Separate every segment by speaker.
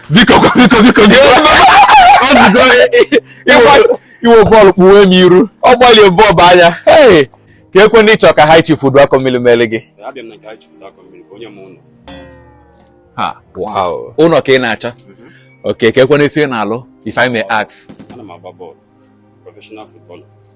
Speaker 1: biko biko biko iwe bọọlụ kpuwe m iru ọ gbalie bọọbụ anya keekwenụ ị chọrọ ka High Chief Uduakọmmiri mere gị ụlọ ka ị na-achọ mhm. okay keekwenụ ife ị na-alụ if I may ask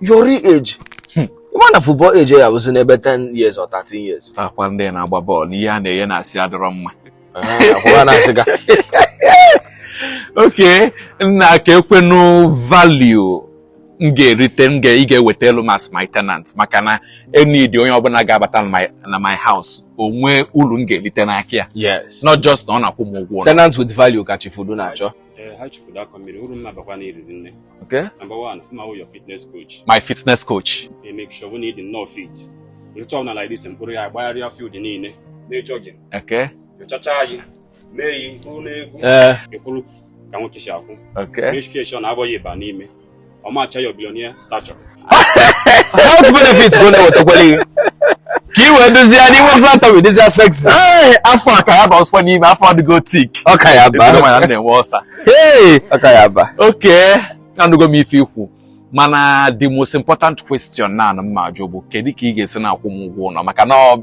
Speaker 1: your
Speaker 2: real age hmm. ịma na football age ya bụzi n'ebe 10 years or 13 years ọkwa ndị na-agba
Speaker 1: bọọlụ ihe a na-enye na-asị adọrọ mma ah, okay nna keekwenụ value m ga-erite m ga ị ga-ewetalụ m as my tenant maka na I need onye ọbụla ga-abata na my house o nwe ulu m ga-erite n'aka ya not just na
Speaker 2: ọ na-akwụ m
Speaker 1: ụgwọ tenant with value ka
Speaker 2: Chief Udu na-achọ Eh, High Chief
Speaker 3: Uduakọmmiri uru m ma-abakwa na iriri nne okay number
Speaker 1: one m ma-awụ
Speaker 3: your fitness coach my fitness coach
Speaker 1: e make sure wụ na ị
Speaker 3: dị nnọọ fit ụtụtụ ọbụla like this m kpọrọ ị agbagharịa field niile na jogging okay
Speaker 1: nyochacha
Speaker 3: anyị mee yi hụ n'egwu ee ị kwụrụ ka nwoke si akwụ
Speaker 1: okay medication abụghị
Speaker 3: ịba n'ime ọ macha your
Speaker 2: billionaire stature health benefits bụ na-ewetakwala ihe ka i wee dozie ya n'inwe flat tummy dịzie sexy Ee, afọ a ka
Speaker 1: ya ba ọsọ n'ime afọ adịgo thick ọ ka ya ba mana
Speaker 2: m na-enwe
Speaker 1: ọsa Hey, ọ
Speaker 2: ka ya ba
Speaker 1: okay anụgo m ife i kwu mana the most important question na m ma-ajụ bụ kedu ka ị ga-esi na-akwụ m ụgwọ ụlọ maka na ọ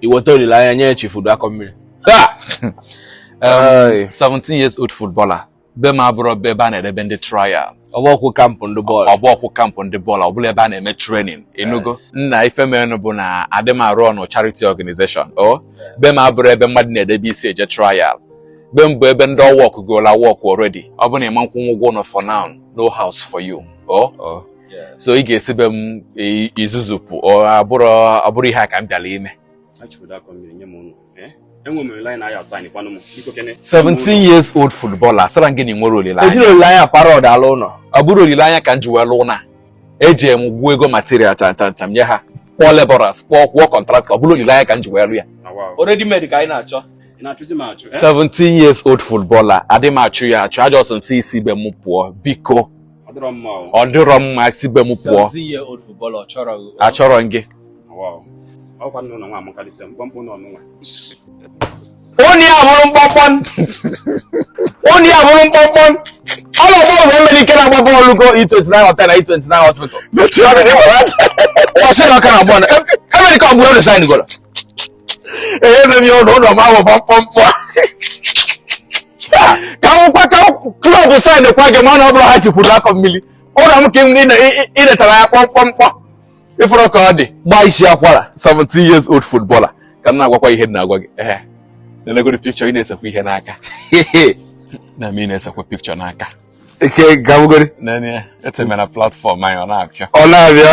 Speaker 2: i weta olileanya nye Chief Uduakọmmiri
Speaker 1: Ha! Ai. 17 years old footballer be m abụrọ be ebe a na-edebe ndị trial ọ bụrọkwụ camp ndị
Speaker 2: bọọlụ ọ bụrọkwụ camp ndị bọọlụ
Speaker 1: ọ bụrọ ebe a na-eme training ị nụgo nna ife menụ bụ na adị m a-run charity organization o be m abụrọ ebe mmadụ na-edebe isi eje trial be m bụ ebe ndị ọ workgolụ work already ọ bụ na ị ma-akwụnwu ụgwọ ụlọ for now no house for you o Oh. so ị ga-esi be m zuzupụ abụrọ ihe a ka m bịara ime
Speaker 3: 17 e years
Speaker 1: old footballer sịrị gị na o nwere olileanya e jiri olileanya pa
Speaker 2: rod alụ ụlọ ọ bụrọ olileanya ka m
Speaker 1: ji wee lụọ na eji m gwuo ego material chanchancham nye ha kpọọ laborers kpọọ kwụọ contractor ọ bụrọ olileanya ka m ji wee lụ ya already made ka anyị
Speaker 2: na-achọ 17 eh?
Speaker 1: years old footballer adị m achọ ya achọ ajọ sị m sị ị si be m pụọ biko ọ dịrọ mma si be m
Speaker 2: pụọ achọrọ m
Speaker 1: gị onye a bụrụ mkpọmkpọn onye a bụrụ mkpọmkpọn ọlọ bọọlụ bụ Emenike na-agba bọọlụ go E29 hotel na E29 hospital ọ sị na ọka na abụọ na Emenike ọgbụ ọrụ sign goro ee nne m ya ụlọ ụlọ m ahụ kpọmkpọmkpọ ka nwụkwa ka club sign kwa gị mana ọ bụrụ High Chief Uduakọmmiri ụlọ m ka ị lechara ya kpọmkpọmkpọ ị fụrụ ka ọ dị gbaa isi akwara 17
Speaker 2: years
Speaker 1: old footballer ka m na-agwakwa ihe na-agwa gị ee na-elegoro picture ị na-esekwa ihe n'aka na m ị na-esekwa picture n'aka
Speaker 2: okay gabugori etemera
Speaker 1: platform anyị ọ na-abịa ọ na-abịa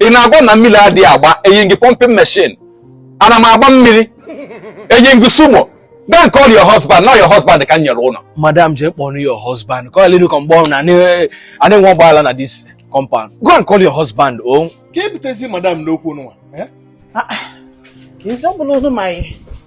Speaker 4: ị na-agwa
Speaker 1: na mmiri adịghị agba eyi gị pọmpin meshin ana m agba mmiri eyi gị sumo Don't call your husband, not your husband can your owner. Madam, just call your
Speaker 2: husband. Call you come born and eh, I don't want bala na this compound. Go and call your husband, oh. Keep tezi
Speaker 4: madam no kuno. Eh? Ah.
Speaker 5: Kinsa bulu no mai.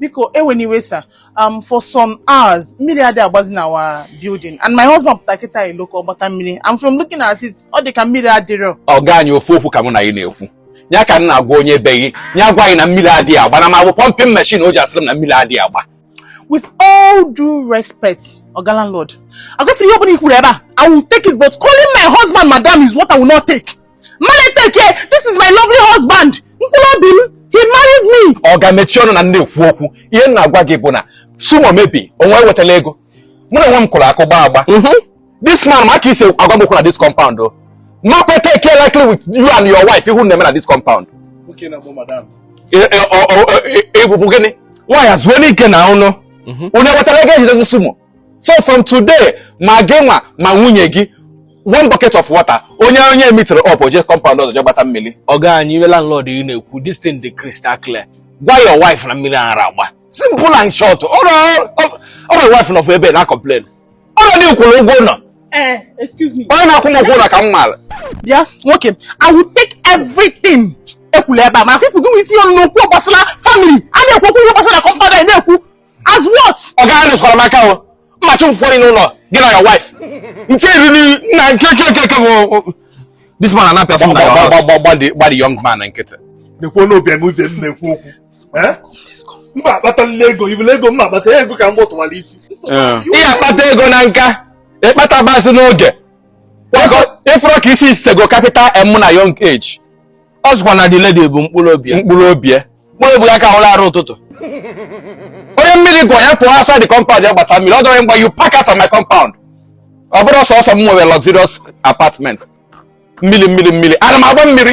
Speaker 5: biko ewena iwe sir um, for some hours mmiri adị agbazi na our building and my husband pụta kịta ilo ka ọ gbata mmiri and from looking at it ọ dị ka mmiri adịrọ oga anyị ofu okwu ka
Speaker 1: mụ na gị na-ekwu ya ka m na-agwa onye be gị ya gwa gị na mmiri adịghị agba na m abụ pumping machine o ji asịrị m na mmiri adịghị agba with
Speaker 5: all due respect oga landlord agwefere ihe ọbụla i kwuru ebe a i will take it but calling my husband madam is what i will not take M ma take ya, this is my lovely husband. Mkpụrụ obi m, he married me. Oga mechie ọnụ na
Speaker 1: ndị ekwu okwu. Ihe m na-agwa gị bụ na sumo mebie unu ewetala ego. Mụ na onwe m kụrụ akụ gbaa agba. Mhm. This man ma ka i si agwa m okwu na this compound o. Ma kwe take ya likely with you and your wife ihe unu na-eme na this compound. Okay,
Speaker 4: na bụ madam. Ị
Speaker 1: bụbu gịnị? Nwaanyị azụọ n'ike na ọnụ. Mhm. Onye wetara ego e ji dezie sumo. so from today ma gị nwa ma nwunye gị one bucket of water onye onye emitere up o je compound ọzọ je gbata mmiri ọga anyị ihe landlord
Speaker 2: ị na-ekwu this thing dị crystal clear gwa your wife na
Speaker 1: mmiri ara agba simple and short your wife nọ ebe na-complain ọrọ di kwụrụ ụgwọ ụlọ
Speaker 5: eh, onye na-akwụ m ụgwọ ụlọ ka
Speaker 1: m maara bịa
Speaker 5: nwoke i will take everything i kwulu ebe a ma akwụfụ gị nwe isi ọnụ n'okwu gbasara family a na-ekwu okwu ihe gbasara compound ị na-ekwu as what oga anyị arụzikwala m
Speaker 1: aka o mmachi m fụrụ n'ụlọ gị na your wife m cheriri na nke nke nke nke bụ this man anapịa sọ na your house gba the young man nkịtị na-ekwu n'obi eme
Speaker 4: ibe m na-ekwu okwu eh? m akpatalila ego ibele ego m akpata ego ka m gbọtụwara isi ị ya-akpata
Speaker 1: ego na nka ị kpatabazị n'oge ị fụrụ ka isi sego capital M na young age ọ sịkwa na
Speaker 2: the lady bụ mkpụrụ obi ya mkpụrụ obi
Speaker 1: ya mkpụrụ obi ya aka awụrọ arụ ụtụtụ onye mmiri gụọ ya pụọ outside the compound ya gbata mmiri ọ dọrọ mgbe you pack out of my compound ọ bụrọ sọsọ m nwere luxurious apartment mmiri mmiri mmiri ana m agba mmiri